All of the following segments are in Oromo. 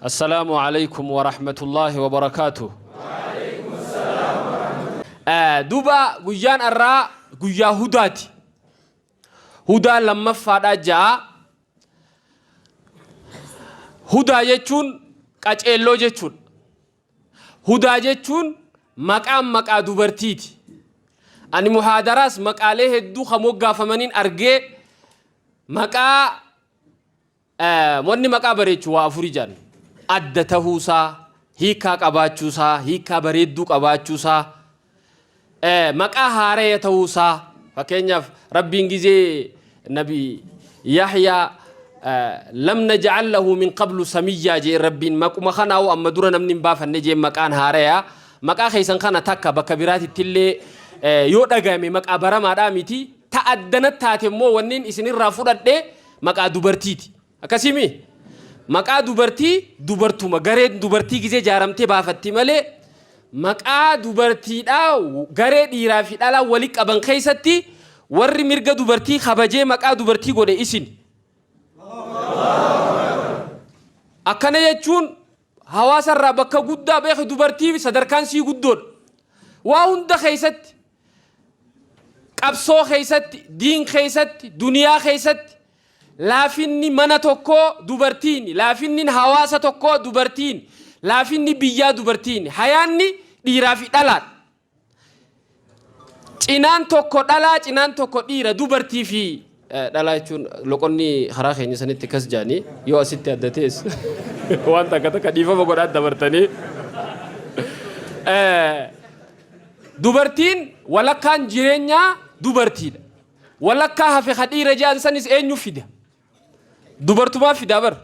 Assalaamu Aleykum Warahmatullaahi Wabarakaatuh. Duuba guyyaan arraa guyyaa hudaati. Hudaa lammaffaadhaa ja'a. Hudaa jechuun qaceelloo jechuudha. Hudaa jechuun maqaan maqaa dubartiiti. Ani muhaadaraas maqaalee hedduu kan moggaafamaniin argee maqaa Wanni maqaa bareechu waa afur ijaan adda tahuu isaa, hiikkaa qabaachuu isaa, hiikkaa bareedduu qabaachuu isaa, maqaa haaraya tahuu isaa, fakkeenyaaf Rabbiin gizee nabi Yahyaa lam naj'al lahu min qablu samiyyaa jeen Rabbiin maquma kanaa'u amma dura namni hin baafanne jeen maqaan haaraya maqaa keessan kana takka bakka biraatitti illee yoo dhagayame maqaa baramaadhaa miti ta addana taate immoo wanniin isinirraa fudhadhe maqaa dubartiiti. Akkasii mii? Maqaa dubartii dubartuma gareen dubartii gizee jaaramtee baafatti malee maqaa dubartiidhaa garee dhiiraa fi dhalaa wali qaban keessatti warri mirga dubartii kabajee maqaa dubartii godhe isin. Akkana jechuun hawaasarraa bakka guddaa beeku dubartii sadarkaan sii guddoodha. Waa hunda keessatti Qabsoo keessatti, diin keessatti, duniyaa keessatti laafinni mana tokkoo dubartiini, laafinni hawaasa tokkoo dubartiini, laafinni biyyaa dubartiini. Hayaanni dhiiraa fi dhalaadha. Cinaan tokko dhalaa, cinaan tokko dhiira, dubartii fi Dhalaa jechuun loqonni karaa keenya sanitti kas jaanii yoo asitti adda tees waan takka takka dhiifama godhaa dabartanii dubartiin walakkaan jireenyaa dubartiidha. Walakkaa hafe ka dhiira ja'an sanis eenyu fida? Dubartumaa fidaa bar.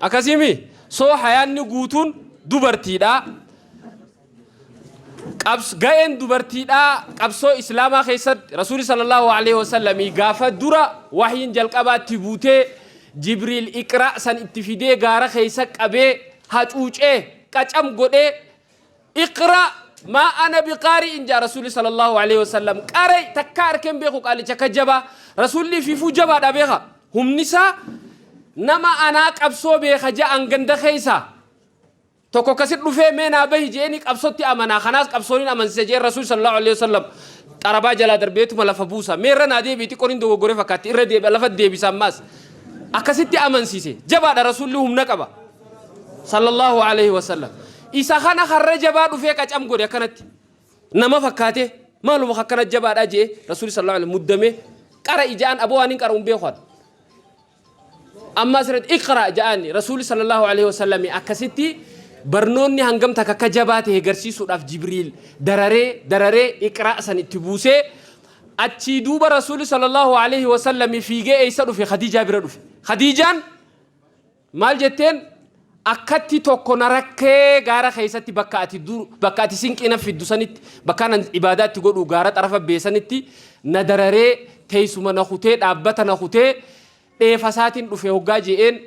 Akkasii mi? So hayaanni guutuun dubartiidha. Qabs ga'een dubartiidha qabsoo Islaamaa keessatti Rasuuli sallallahu alaihi wasallam gaafa dura wahyiin jalqabaa itti buutee Jibriil Iqraa san itti fidee gaara keessa qabee hacuucee qacam godhee iqra maa ana biqaari'in jaa rasuulli sallallahu alaihi wasallam qaray takka arkeen beeku qaalicha akka jabaa rasuulli fiifuu jabaadha beeka humnisaa nama anaa qabsoo beeka ja'an ganda keessa tokko kasit dhufee mee naa bahi jeeni qabsotti amanaa kanaas qabsoonin amansisa jeen rasuul sallallahu alaihi wasallam xarabaa jalaa darbeetuma lafa buusa mee irra naa deebi'i xiqqoon hin dogoggore fakkaatti irra deebi'a lafa deebisa ammaas akkasitti amansiise jabaadha rasuulli humna qaba sallallahu alayhi wa sallam isa kana harra jabaa dhufee qacam godhe akkanatti nama fakkaatee maaluma akkana jabaadhaa jee rasuulli sallallahu alayhi muddamee qara ijaan aboo waan hin qara hin beeku amma asirratti iqra ja'aani rasuulli sallallahu alayhi wa sallam akkasitti barnoonni hangam takka akka jabaa ta'e garsiisuudhaaf jibriil dararee dararee iqra san itti buusee achii duuba rasuulli sallallahu alayhi wa sallam fiigee eessa dhufe khadiijaa bira dhufe khadiijaan Maal jetteen? Akkatti tokko na rakkee gaara keessatti bakka ati dur bakka ati sinqii naf fiddu sanitti bakkaan an ibaadaa itti godhu gaara xarafa bee sanitti na dararee teessuma na kutee dhaabbata na kutee dheefa isaatiin dhufe hoggaa je'een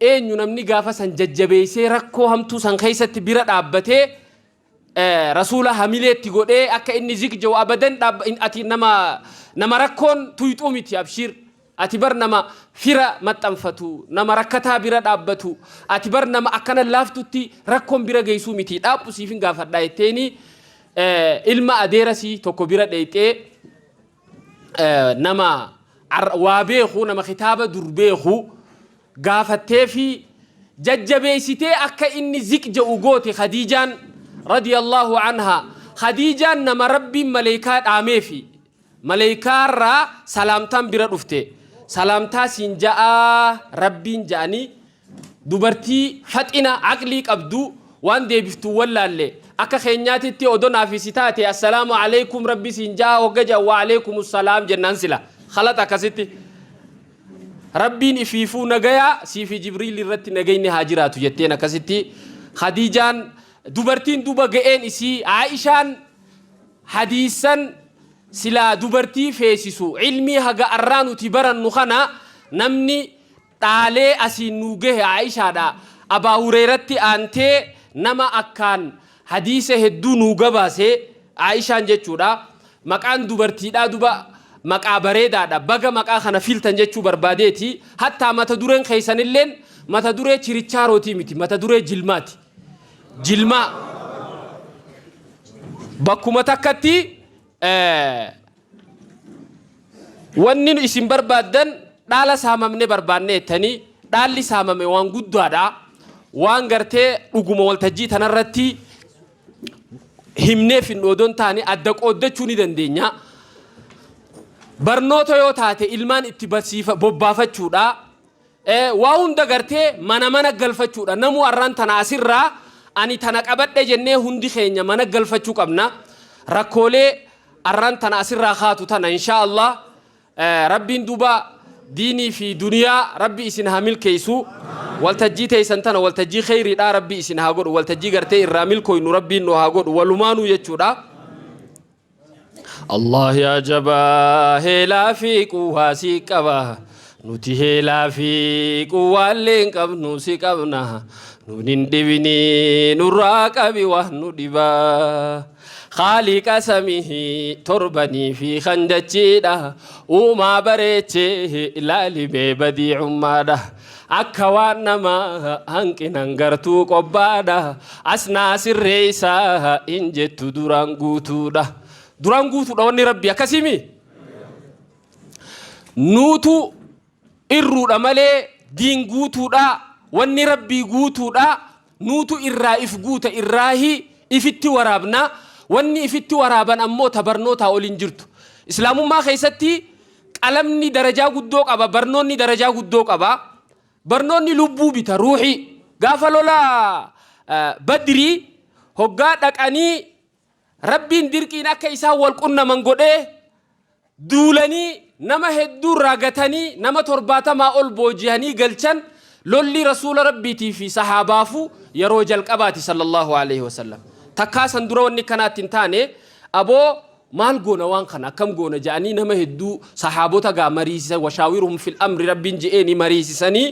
eenyu namni gaafa san jajjabeessee rakkoo hamtuu san keessatti bira dhaabbatee Rasuula hamilee itti godhee akka inni zik je'u abadan dhaab- in- ati nama nama rakkoon tuyxuu miti abshiir ati bar nama fira maxxanfatu nama rakkataa bira dhaabbatu ati bar nama akkana laaftutti rakkoon bira geessuu miti dhaabbu siifin gaafadhaa jetteeni eh, ilma adeerasii tokko bira dheeyxee nama waa beeku nama kitaaba dur beeku gaafattee fi jajjabeessitee akka inni ziq ja'u goote Khadiijaan radiyallahu anha Khadiijaan nama rabbiin maleekaa dhaamee fi maleekaarraa salaamtaan bira dhufte salaamtaa siin ja'aa rabbiin ja'anii Dubartii faxina aqlii qabdu waan deebiftu wallaalle akka keenyaatitti odo naafi si taate assalaamu aleykum rabbi siin jaha hogga jedhan wa aleykumu salaam jennaan sila khalata akkasitti rabbiin ifiifuu nagaya siifi jibriil irratti nagayni haa jiraatu jetteen akkasitti khadiijaan dubartiin duba ga'een isii aa'ishaan hadiisan silaa dubartii feesisu ilmii haga arraa nuti barannu kana namni dhaalee asiin nuu gahe Aa'ishaadhaa Abaa Hureyratti aantee nama akkaan hadiisa hedduu nuu gabaase Aa'ishaan jechuudha maqaan dubartiidhaa duba maqaa bareedaadha baga maqaa kana fiiltan jechuu barbaadeeti hattaa mata dureen keessanilleen mata duree chirichaarootii miti mata duree jilmaati jilmaa bakkuma takkatti Wanni nu isin barbaaddan dhaala saamamne barbaanne jettanii dhaalli saamame waan guddaadha. Waan gartee dhuguma waltajjii tanarratti himnee finnu odoo hin taane adda qooddachuu ni dandeenya. Barnoota yoo taate ilmaan itti barsiifa bobbaafachuudha. Waa hunda gartee mana mana galfachuudha namuu arraan tana asirraa ani tana qabadhe jennee hundi keenya mana galfachuu qabna rakkoolee arraan tana asirraa kaatu tana inshaa allah rabbiin duuba diinii fi duniyaa rabbi isin haa milkeessu waltajjii teeysan tana waltajjii kheyriidhaa rabbi isin haa godhu waltajjii gartee irraa milkooynu rabbiin nu haa godhu walumaanuu jechuudha. Allah yaa jabaa heelaa fi quwwaa si qaba nuti heelaa fi quwwaallee hin qabnu si qabna nun hin dhibini nurraa qabi waa nu dhiba khaaliqa samihi torbanii fi kan dachiidha uumaa bareechee ilaalimee badiicummaadha Akka waan namaa hanqinan gartuu qobbaadha. Asnaa sirreessaa hin jettu duraan guutuudha. Duraan guutuudha wanni rabbi akkasimi. Nuutu irruudha malee diin guutuudha wanni rabbii guutuudha Nuutu irraa if guuta irraahi ifitti waraabna. Wanni ifitti waraaban ammoo ta barnootaa ol hin jirtu. Islaamummaa keessatti qalamni darajaa guddoo qaba, barnoonni darajaa guddoo qaba. Barnoonni lubbuu bita, ruuhii. Gaafa lola Badrii hoggaa dhaqanii Rabbiin dirqiin akka isaan wal qunnaman godhee duulanii nama hedduu irraa gatanii nama torbaatamaa ol boojihanii galchan lolli rasuula rabbiitii fi sahaabaafu yeroo jalqabaati sallallahu alaihi wasallam takkaa san dura wanni kanaatti hin taane aboo maal goona waan kana akkam goona ja'anii nama hedduu sahaabota gaa mariisisa washaawiruhum fil amri rabbiin je'eeni mariisisanii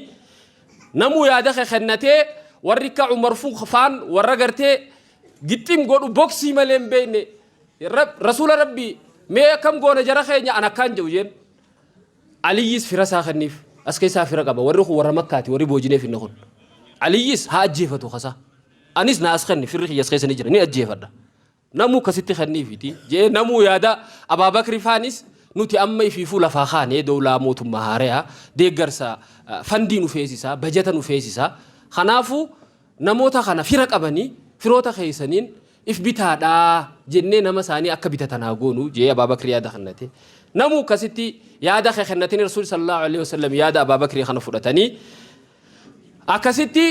namuu yaada kennatee warri akka umar faan warra gartee gixxim godhu boksii malee hin beekne Rab- rasuula rabbii mee akkam goona jara keenya an akkaan jedhu jeen aliyyis fira isaa kenniif as keessaa fira qaba warri kun warra makkaati warri boojinee finne kun aliyyis haa ajjeefatu kasaa anis na as kenni firri kiyyas keessa ni jira ni ajjeefadha namuu kasitti kenniifiti jee namuu yaada abaabakri faanis nuti amma ifiifuu lafaa kaanee dowlaa mootummaa haareyaa deeggarsa ah, fandii nu feesisaa bajata nu feesisaa kanaafuu Namoota kana fira qabanii, firoota keessaniin if bitaadhaa jennee nama isaanii akka bitatan haa goonu jee Abaa Bakri yaada kennate. Namuu akkasitti yaada kee kennatanii Rasuulli sallallahu alaihi wasallam yaada Abaa Bakrii kana fudhatanii akkasitti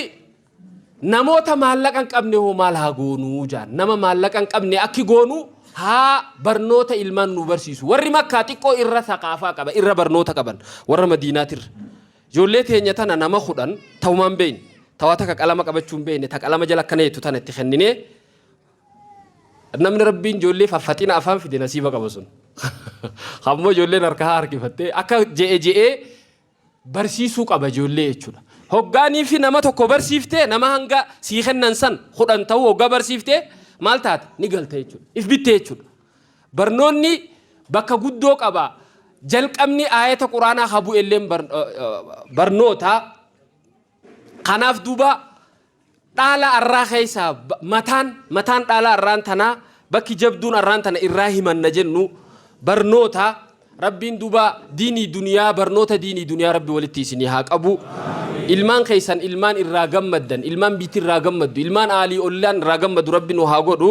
namoota maallaqa hin qabne hoo maal haa goonuu jaan nama maallaqa hin qabne akki goonuu haa barnoota ilmaan nu barsiisu warri makkaa xiqqoo irra saqaafaa qaba irra barnoota qaban warra madiinaatirra Ijoollee teenya tana nama kudhan taumaa hin beeyne, ta waa takka qalama qabachuu hin beeyne, ta qalama jala akkana jettu tana itti kenninee, namni Rabbiin ijoollee faffaxina afaan fide nasiiba qaba sun. Kan immoo ijoolleen harkaa harkifattee akka je'e je'ee barsiisuu qaba ijoollee jechuudha. Hoggaanii fi nama tokko barsiiftee nama hanga sii kennan san kudhan ta'uu hoggaa barsiiftee maal taate ni galta jechuudha. If bitte jechuudha. Barnoonni bakka guddoo qaba. Jalqabni aayata Quraanaa ha bu'elleen barnoota. Kanaaf duuba dhaala arraa keessaa mataan mataan dhaala arraan tanaa bakki jabduun arraan tana irraa himanna jennu barnoota. Rabbiin duuba diinii duniyaa barnoota diinii duniyaa rabbi walitti isinii haa qabu. Ilmaan keessan ilmaan irraa gammaddan ilmaan biitti irraa gammaddu ilmaan aalii ollaan irraa gammadu rabbi nu haa godhu.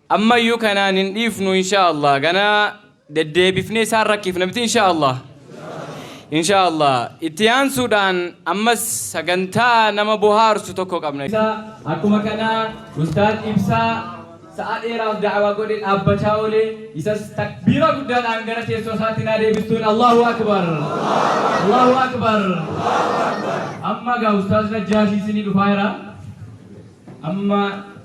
Ammayyuu kanaan hin dhiifnu inshaa Allah gana deddeebifnee isaan rakkifna miti inshaa Allah inshaa Allah itti aansuudhaan ammas sagantaa nama bohaarsu tokko qabna. Akkuma kana Ustaaz Ibsaa sa'a dheeraaf da'awaa godhe dhaabbachaa oole isas takbiira guddaadhaan gara teessoo isaatti naa deebistuun Allaahu Akbar Allaahu Akbar Amma egaa Ustaaz Najjaashii isinii dhufaa jira amma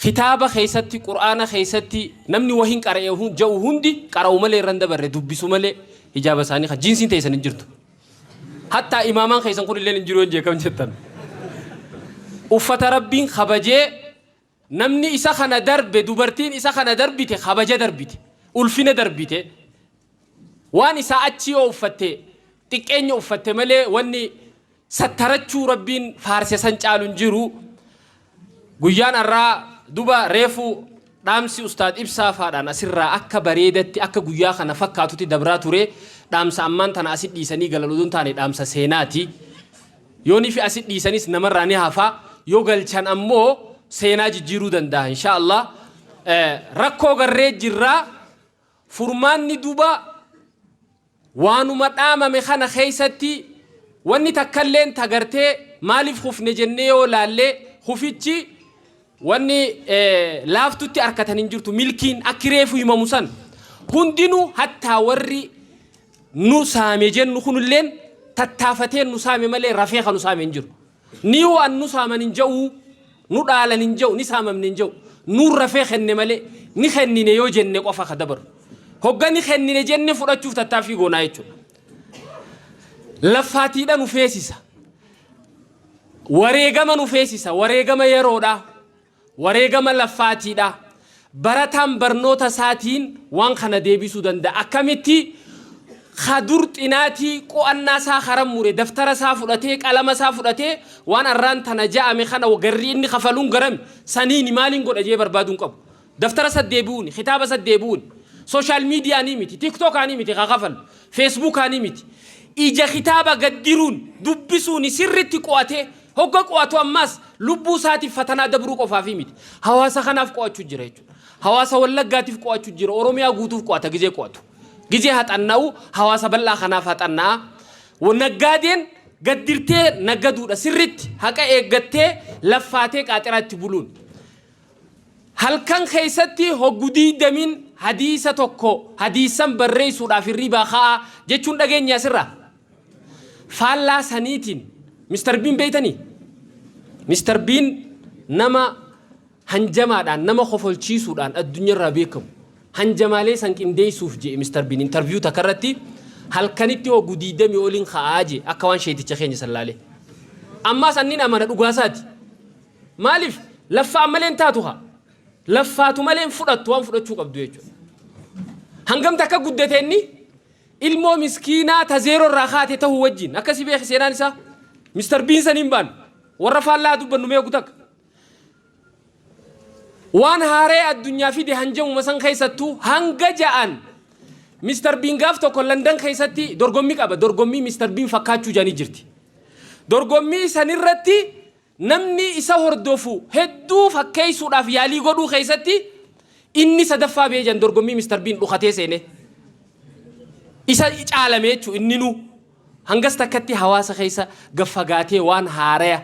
Kitaaba keessatti, Qur'aana keessatti, namni wahiin qara'e ja'u hundi qara'u malee irra hin dabarre, dubbisu malee hijaaba isaanii kan jiinsiin teessan hin jirtu. Hattaa imaamaan keessan kun illee hin jiru hin jee kam jettan. Uffata Rabbiin kabajee namni isa kana darbe dubartiin isa kana darbite kabaja darbite, ulfina darbite. Waan isaa achi yoo uffatte xiqqeenya uffatte malee wanni sattarachuu rabbiin faarse san caalu hin jiru guyyaan arraa duba reefu dhaamsi ustaad ibsaa faadhaan asirraa akka bareedatti akka guyyaa kana fakkaatutti dabraa ture dhaamsa ammaan tana asit dhiisanii galan odoo hin taane dhaamsa seenaati yoonifi asit dhiisanis namarraa ni hafa yoo galchan ammoo seenaa jijjiiruu danda'a insha Allah Eh, rakkoo garree jirraa furmaanni duba Waanuma dhaamame kana keessatti wanni takkalleen ta gartee maaliif kufne jennee yoo laalle kufichi wanni laaftutti arkatan hin jirtu milkiin akki reefu himamu san hundinuu hattaa warri nu saame jennu kunilleen tattaafateen nu saame malee rafee kan nu saame hin jiru. Ni waan nu saaman hin ja'uu, nu dhaalan hin ja'u, ni saamamne hin ja'u. Nuun rafee kenne malee ni kennine yoo jenne qofa ka dabarru. Hogga ni kennine jenne fudhachuuf tattaaffii goonaa jechuudha. Laffaatiidha nu feesisa. Wareegama nu feesisa. Wareegama yeroodhaa. Wareegama laffaatii dha. Barataan barnoota isaatiin waan kana deebisuu danda'a. Akkamitti? Ka dur xinaatii, qo'annaa isaa ka rammure, daftara isaa fudhatee, qalama isaa fudhatee, waan arraan tana ja'ame kana garri inni kafaluun garami? Saniini maaliin godha je'ee barbaaduu hin qabu. Daftara isatti deebi'uuni, kitaaba isatti deebi'uuni. Social media'aanii miti, tiktokaanii miti ka kafallu, feesbuukaanii miti. Ija kitaaba gad diruun, dubbisuuni sirritti qo'atee, Hogga qo'atu ammaas lubbuu isaatiif fatanaa dabruu qofaafii miti. Hawaasa kanaaf qo'achuu jira jechuudha. Hawaasa Wallaggaatiif qo'achuu jira. Oromiyaa guutuuf qo'ata gizee qo'atu. Gizee haxanna'u hawaasa bal'aa kanaaf haxanna'a. Wa- Naggaadeen gaddirtee naggaduudha sirritti haqa eeggattee laffaatee qaaxiraa itti buluun. Halkan keessatti hoggu diidamiin hadiisa tokko hadiisan barreessuudhaaf hirribaa ka'aa jechuun dhageenya asirraa. Faallaa saniitiin Mr. Biin beeytanii? Mr. Biin nama hanjamaadhaan, nama kofolchiisuudhaan addunyarraa beekamu. Hanjamaalee san qindeessuuf je'e Mr. Biin interview takka irratti halkanitti hoggu 20 oliin ka'aa je'e akka waan sheeyticha keenya san laalee. Ammaas annin amana dhugaa isaati. Maaliif laffa'an malee hin taatu kaa. Laffaatu malee hin fudhattu waan fudhachuu qabdu jechuudha. Hangam takka guddate inni? Ilmoo miskiinaa ta zeeroo irraa kaate tahuu wajjiin. Akkasi beeki seenaan isaa. Mister Biin saniin baanu. Warra faallaa haa dubbannu mee ogu takka. Waan haaree addunyaa fide hanjamuma san keessattuu hanga ja'an Mister Biin gaaf tokko Landan keessatti dorgommii qaba. Dorgommii Mister Biin fakkaachuu jaanii jirti. Dorgommii sanirratti Namni isa hordofu hedduu fakkeessuudhaaf yaalii godhuu keessatti inni sadaffaa ba'ee jedhan dorgommii Mister Biin dhukatee seenee. Isa caalame jechuun inninuu hangas takkatti hawaasa keessa gad fagaatee waan haaraya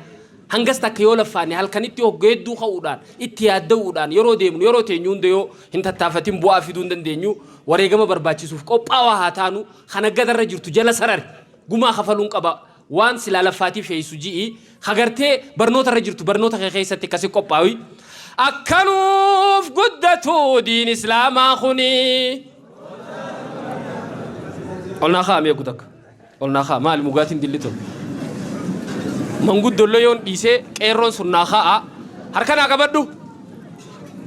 hangas takka yoo laffaanne halkanitti hogga hedduu ka'uudhaan itti yaadda'uudhaan yeroo deemnu yeroo teenyu hunda yoo hin tattaafatin bu'aa fiduu hin dandeenyu wareegama barbaachisuuf qophaawaa haa taanu kan aggadarra jirtu jala sarari gumaa kafaluun qaba Waan silaa laffaatiif sheeysu ji'i, ka gartee barnoota irra jirtu barnoota kee keessatti akka si qophaawi. Akka nuuf guddatu diin islaamaa kuni. Ol naa kaa'ame eegu takka. Ol naa kaa'a maali mugaatiin dilli tun. Manguddollee yoon dhiisee qeerroon sun naa kaa'a. Harka naa qabadhu.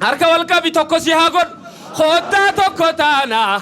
Harka wal qabi tokko si haa godhu. Koottaa tokko taana.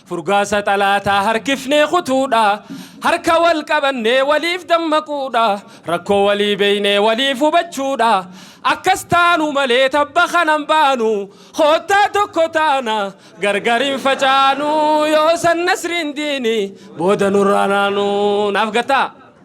Furgaasa xalaataa harkifnee kutuudha. Harka wal qabannee waliif dammaquudha. Rakkoo walii beeynee waliif hubachuudha. Akkas taanu malee tabba kana hin baanu. Koottaa tokko taana gargar hin facaanu. Yoo san nasriin diini booda nurraa naanu. Naaf gattaa?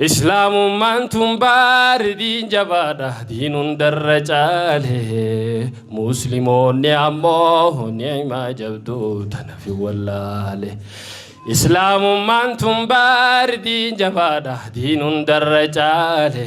Islaamummaan tun baari diin jabaadha diin hundarra caale muslimoonni ammoo ni'imaa jabduu tanafi wallaale. Islaamummaan tun baari diin jabaadha diin hundarra caale.